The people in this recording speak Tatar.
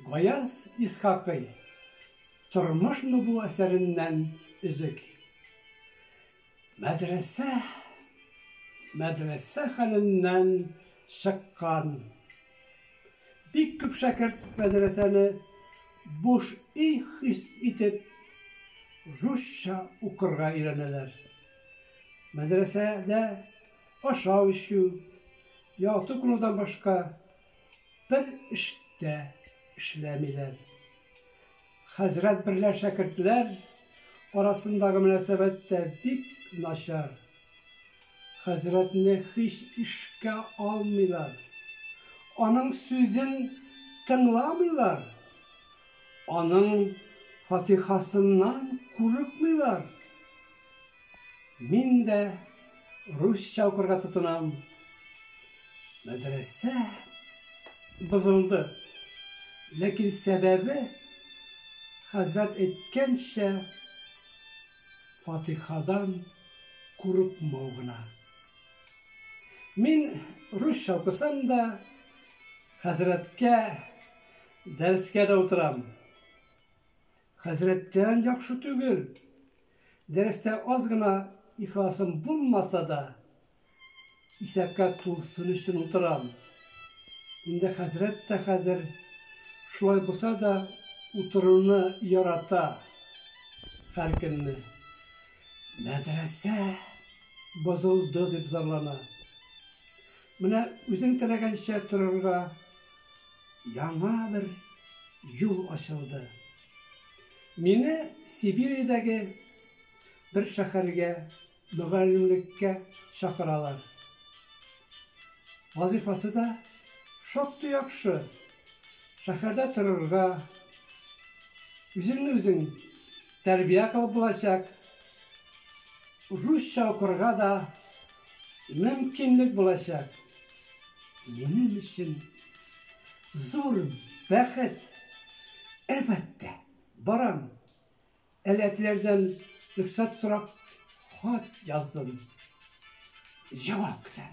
Гаяз Исхакый Тормышмы бу әсәреннән өзек. Мәдрәсә мәдрәсә хәленнән чыккан. Бик күп шәкерт мәдрәсәне буш өй хис итеп русча укырга өйрәнәләр. Мәдрәсәдә ашау-эчү, яту кылудан башка Бер эш тә эшләмиләр. Хәзрәт берлә шәкертләр арасындагы мөнәсәбәт тә бик начар. Хәзрәтне һич эшкә алмыйлар. Аның сүзен тыңламыйлар. Аның фатихасыннан курыкмыйлар. Мин дә русча укырга тотынам. Мәдрәсә бозылды. Ләкин сәбәбе хәзрәт әйткәнчә Фатихадан курыкмау гына. Мин русча укысам да хәзрәткә дәрескә дә утырам. Хәзрәттән яхшы түгел, Дәрестә аз гына ихласым булмаса да, исәпкә тулсын өчен утырам. Инде хәзрәт тә хәзер шулай булса да утыруны ярата һәркөнне. Мәдрәсә бозылды дип зарлана. Менә үзең теләгәнчә торырга яңа бер юл ачылды. Мине Сибириядәге бер шәһәргә мөгаллимлеккә чакыралар. Вазыйфасы да шактый яхшы. Шәһәрдә торырга, үзеңне үзең тәрбия кылып булачак, русча укырга да мөмкинлек булачак. Минем өчен Зур бәхет! Әлбәттә, барам. Әләтләрдән рөхсәт сорап хат яздым. Җавап көтәм.